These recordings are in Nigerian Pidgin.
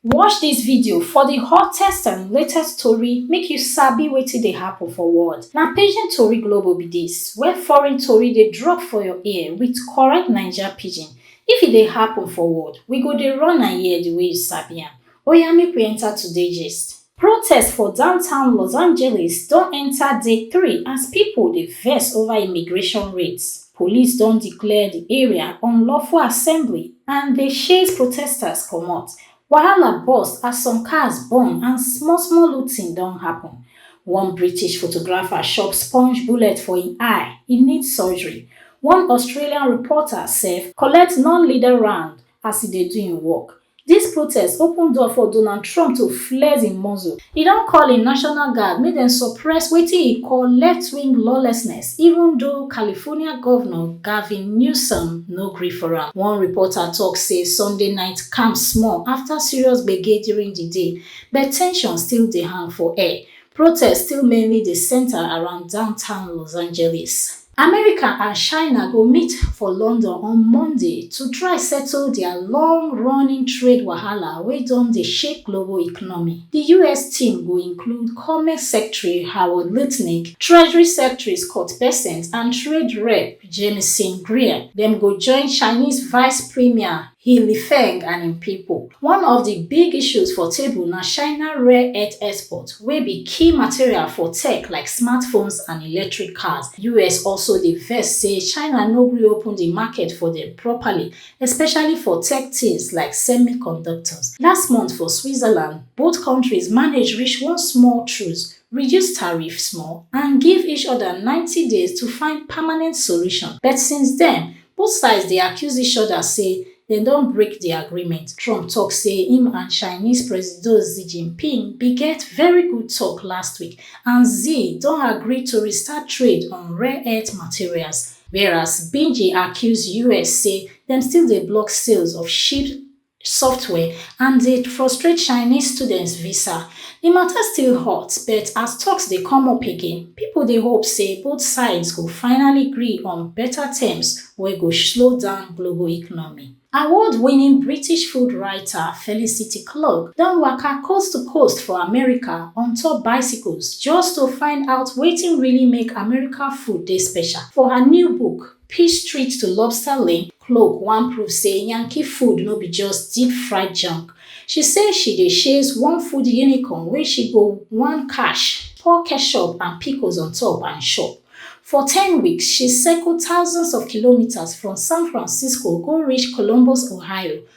Watch dis video for di hottest and latest tori make you sabi wetin dey happun for world. Na Pidgin Tori Global be dis, where foreign tori dey drop for your ear wit correct Naija Pidgin. If e dey happun for world, we go dey run am here di way you sabi am. Oya make we enta today gist. Protests for downtown Los Angeles don enta day three as pipo dey vex over immigration raids. Police don declare di area unlawful assembly and dey chase protesters comot. Wahala burst as some cars burn and small small looting don happun. One British photographer chop sponge bullet for im eye, e need surgery. One Australian reporter sef collect non-lethal round As e dey do im work, dis protest open door for Donald Trump to flex im muscle. E don call im National Guard make dem suppress wetin e call left-wing lawlessness, even though California Governor Gavin Newsom no gree for am. One reporter talk say Sunday night calm small after serious gbege during di day, but tension still dey hang for air. Protests still mainly dey center around downtown Los Angeles. America and China go meet for London on Monday to try settle dia long-running trade wahala wey don dey shake global economy. Di us team go include Commerce Secretary Howard Lutnick, Treasury Secretary Scott Bessent and Trade Rep Jamieson Greer. Dem go join Chinese Vice Premier He Lifeng and im pipo. One of di big issues for table na China rare earth export wey be key material for tech like smartphones and electric cars. Us also dey vex say China no gree open di market for dem properly, especially for tech tins like semiconductors. Last month for Switzerland, both kontris manage reach one small truce, reduce tariff small and give each oda ninety days to find permanent solution. But since den, Both sides dey accuse each oda say dem don break di agreement. Trump tok say im and Chinese Presido Xi Jinping bin get very good tok last week and Xi don agree to restart trade on rare earth materials, whereas Beijing accuse us say dem still dey block sales of cheap software and dey frustrate chinese students visa di mata still hot but as toks dey come up again pipo dey hope say both sides go finally gree on beta terms wey go slow down global economy award-winning british food writer felicity clark don waka coast to coast for america on top bicycles just to find out wetin really make america food dey special for her new book Peace Street to Lobster Link, Cloak wan prove say Yankee food no be just deep fried junk. She say she dey chase one food unicorn wey she go wan catch, pour ketchup and pickles on top and chop. For ten weeks, she circle thousands of kilometres from San Francisco go reach Columbus, Ohio,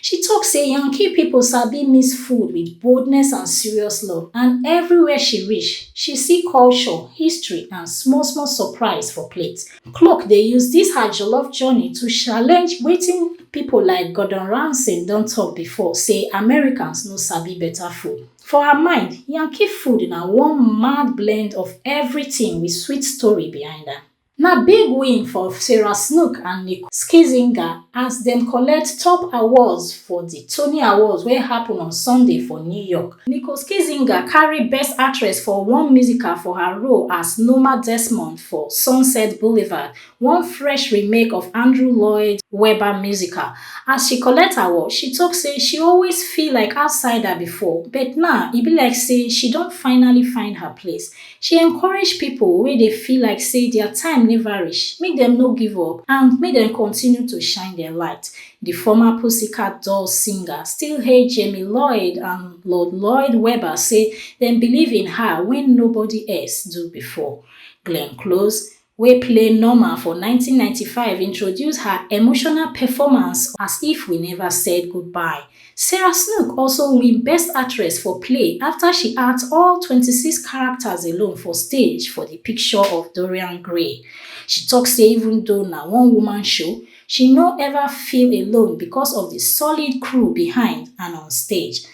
She tok say Yankee pipo sabi mix food wit boldness and serious love and evriwia she reach, she see culture, history and small small surprise for plate. Klok dey use dis her jollof journey to challenge wetin pipo like Gordon Ramsay don tok bifor say Americans no sabi betta food. For her mind, Yankee food na one mad blend of evritin wit sweet story behind am. Na big win for Sarah Snook and Nicole Scherzinger as dem collect top awards for di Tony Awards wey happun on Sunday for New York. Nicole Scherzinger carry Best Actress for one Musical for her role as Norma Desmond for Sunset Boulevard, one fresh remake of Andrew Lloyd Webber musical. As she collect award, she tok say she always feel like outsider bifor, but now e be like say she don finally find her place. She encourage pipo wey dey feel like say dia time neva reach make dem no give up and make dem continue to shine dia light. Di former Pussycat Dolls singer still hail Jamie Lloyd and Lord Lloyd Webber say dem believe in her wen nobody else do before. Glenn Close, wey play Norma for nineteen ninety five introduce her emotional performance as If We Never Said Goodbye. Sarah Snook also win Best Actress for Play afta she act all twenty six characters alone for stage for di picture of Dorian Gray. She tok say even though na one woman show, She no ever feel alone because of di solid crew behind and on stage.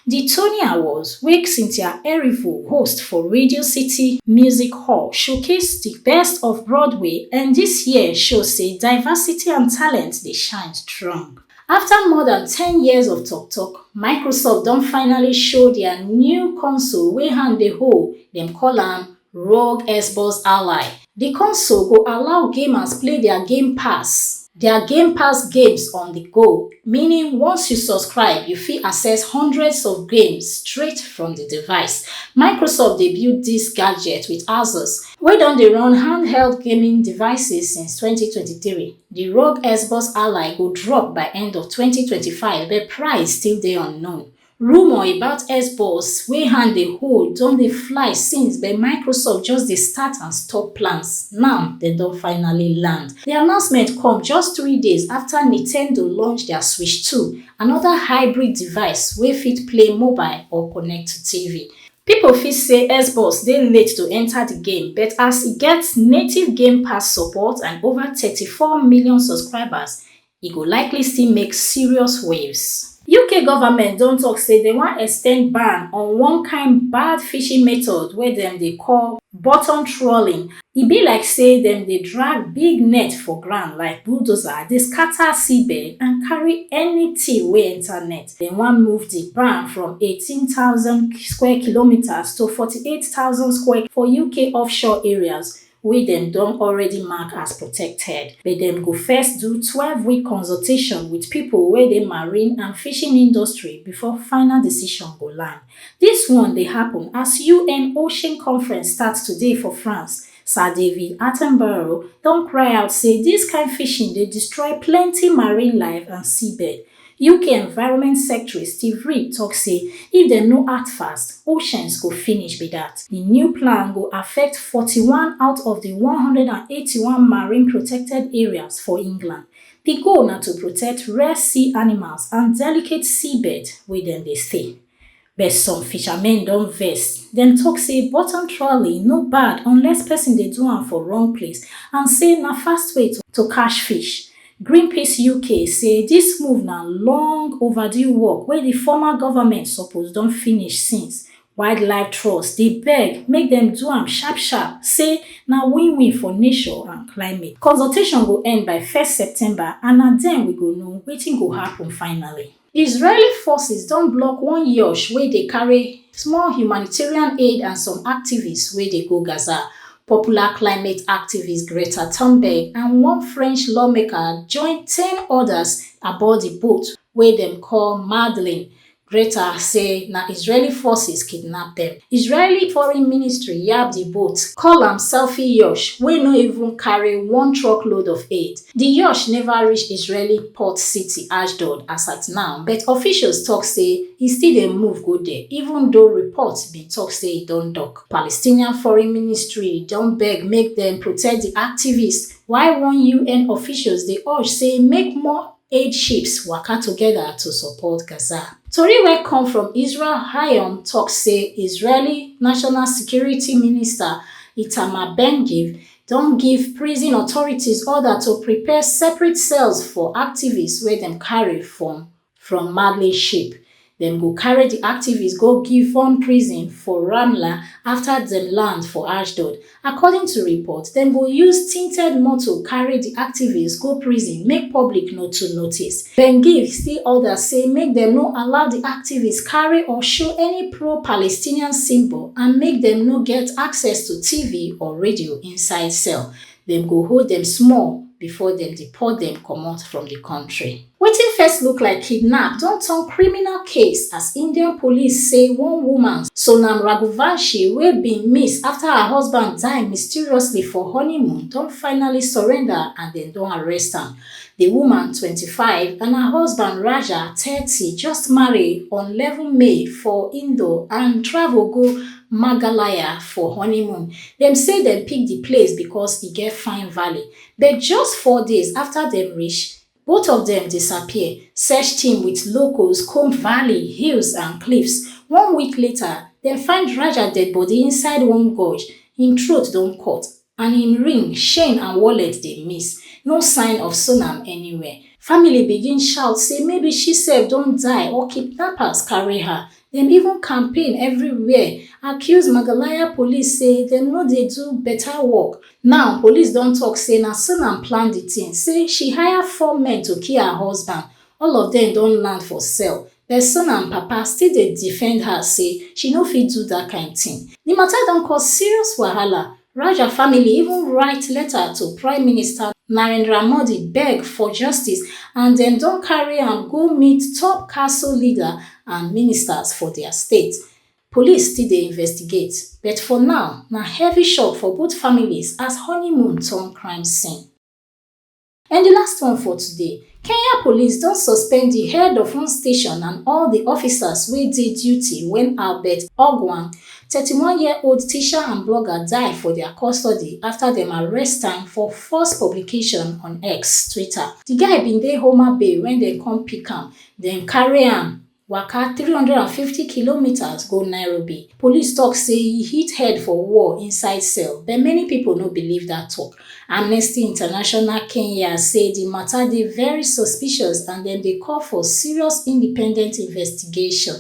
Di Tony Awards, wey Cynthia Erivo host for Radio City Music Hall, showcase di best of Broadway and dis year show say diversity and talent dey shine strong. After more than ten years of tok-tok, Microsoft don finally show dia new console wey hand dey hold, dem call am Rogue Xbox Ally, Di console go allow gamers play dia Game Pass dia Game Pass games on di go, meaning once you subscribe, you fit access hundreds of games straight from di device. Microsoft dey build dis gadget wit Asus, wey don dey run handheld gaming devices since twenty twenty three. Di Rogue Xbox Ally go drop by end of twenty twenty five, but price still dey unknown. Rumour about Xbox wey hand dey hold don dey fly since but Microsoft just dey start and stop plans, now dem don finally land. Di announcement come just three days afta Nintendo launch dia Switch two, anoda hybrid device wey fit play mobile or connect to TV. Pipo fit say Xbox dey late to enta di game, but as e get native Game Pass support and ova thirty four million subscribers, e go likely still make serious waves. Uk government don tok say dem wan extend ban on one kain bad fishing method wey dem dey call bottom trawling. E be like say dem dey drag big net for ground like bulldozer dey scata seabed and carry anytin wey enta net. Dem wan move di ban from eighteen thousand square kilometres to forty eight thousand square for uk offshore areas wey dem don already mark as protected, but dem go first do twelve week consultation wit pipo wey dey marine and fishing industry before final decision go land. Dis one dey happun as un ocean conference start today for France, Sir David Attenborough don cry out say dis kain fishing dey destroy plenty marine life and seabed, Uk Environment Secretary Steve Reed tok say if dem no act fast, oceans go finish be dat. Di new plan go affect forty one out of di one hundred and eighty one marine protected areas for England. Di goal na to protect rare sea animals and delicate seabeds wey dem dey stay. But some fishermen don vex, dem talk say bottom trawling no bad unless person dey do am for wrong place and say na fast way to catch fish. Greenpeace UK say dis move na long overdue work wey di former government suppose don finish since. Wildlife Trust dey beg make dem do am sharp sharp, say na win win for nature and climate. Consultation go end by first September and na den we go know wetin go happen finally. Israeli forces don block one yacht wey dey carry small humanitarian aid and some activists wey dey go Gaza. Popular climate activist Greta Thunberg and one French lawmaker join ten others aboard di boat wey dem call Madeleine. Greta say na Israeli forces kidnap dem. Israeli foreign ministry yab di boat, call am selfie yacht wey no even carry one truckload of aid. Di yacht neva reach Israeli port city Ashdod as at now, but officials tok say e still dey move go there, even though reports bin tok say e don dock. Palestinian foreign ministry don beg make dem protect di activists, while one UN officials dey urge say make more aid ships waka togeda to support Gaza. Tori wey come from Israel Hayom tok say Israeli National Security Minister Itamar Ben-Gvir don give prison authorities order to prepare separate cells for activists wey dem carry from from Mali ship. Dem go carry di activists go Givon prison for Ramla afta dem land for Ashdod. According to reports, dem go use tinted motor carry di activists go prison make public no too notice. Dem give still order say make dem no allow di activists carry or show any pro-Palestinian symbol and make dem no get access to TV or radio inside cell. Dem go hold dem small before dem deport dem comot from di kontri. Wetin first look like kidnap don turn criminal case as Indian police say one woman, Sonam Raghuvanshi, wey bin miss afta her husband die mysteriously for honeymoon don finally surrender and dem don arrest am. Di woman, twenty five, and her husband, Raja, thirty, just marry on eleven May for Indore and travel go Maghalaya for honeymoon. Dem say dem pick di place because e get fine valley, but just four days afta dem reach, both of dem disappear. Search team wit locals comb valley, hills, and cliffs. One week later, dem find Raja deadbody inside one gorge, im throat don cut. and im ring chain and wallet dey miss no sign of sonam anywhere family begin shout say maybe she sef don die or kidnappers carry her dem even campaign everywhere accuse magalaya police say dem no dey do better work now police don talk say na sonam plan the thing say she hire four men to kill her husband all of dem don land for cell Person and papa still dey defend her say she no fit do dat kain tin. Di mata don cause serious wahala. Raja family even write letter to Prime Minister Narendra Modi beg for justice and dem don carry am go meet top Kaso leader and ministers for dia state. Police still dey investigate, but for now, na heavy shock for both families as honeymoon turn crime scene. And di last one for today, Kenya police don suspend di head of one station and all di officers wey dey duty wen Albert Ogwang, thirty one year old teacher and blogger die for dia custody afta dem arrest am for false publication on X, Twitter. Di guy bin dey Homa Bay wen dem come pick am, den carry am. waka 350 kilometres go nairobi police tok say e hit head for wall inside cell but many pipo no believe dat tok amnesty international kenya say di mata dey very suspicious and dem dey call for serious independent investigation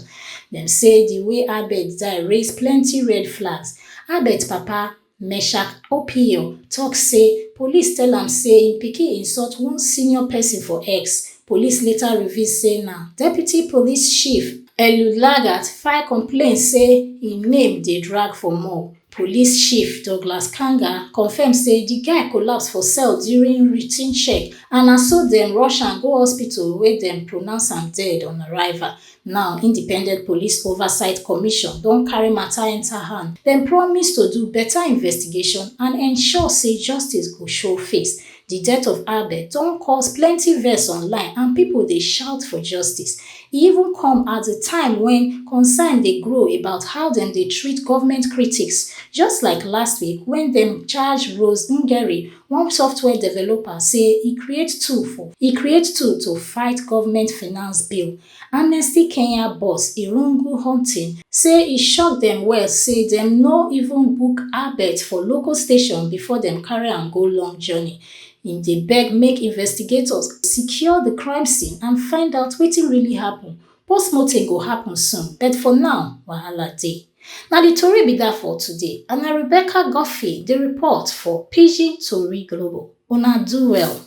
dem say di way abed die raise plenti red flags abed papa Meshack Opio tok say police tell am say im pikin insult one senior pesin for X. Police later reveal say na Deputy Police Chief Elulagat file complaint say im name dey drag for more. Police Chief Douglas Kanga confirm say di guy collapse for cell during routine check and na so dem rush am go hospital wia dem pronounce am dead on arrival. Now, Independent Police Oversight Commission don carry matter enter hand. Dem promise to do better investigation and ensure say justice go show face. Di death of Albert don cause plenty vex online and people dey shout for justice. E even come at di time when concern dey grow about how dem dey treat government critics, just like last week when dem charge Rose Ngeri One software developer say e create tool for. E create tool to fight government finance bill. Amnesty Kenya boss Irungu Hunting say e shock dem well say dem no even book Albert for local station before dem carry am go long journey. Im dey beg make investigators secure di crime scene and find out wetin really happun Postmortem go happen soon but for now, wahala dey. Na di tori be dat for today and na Rebecca Guffey dey report for Pidgin Tori Global. Una do well.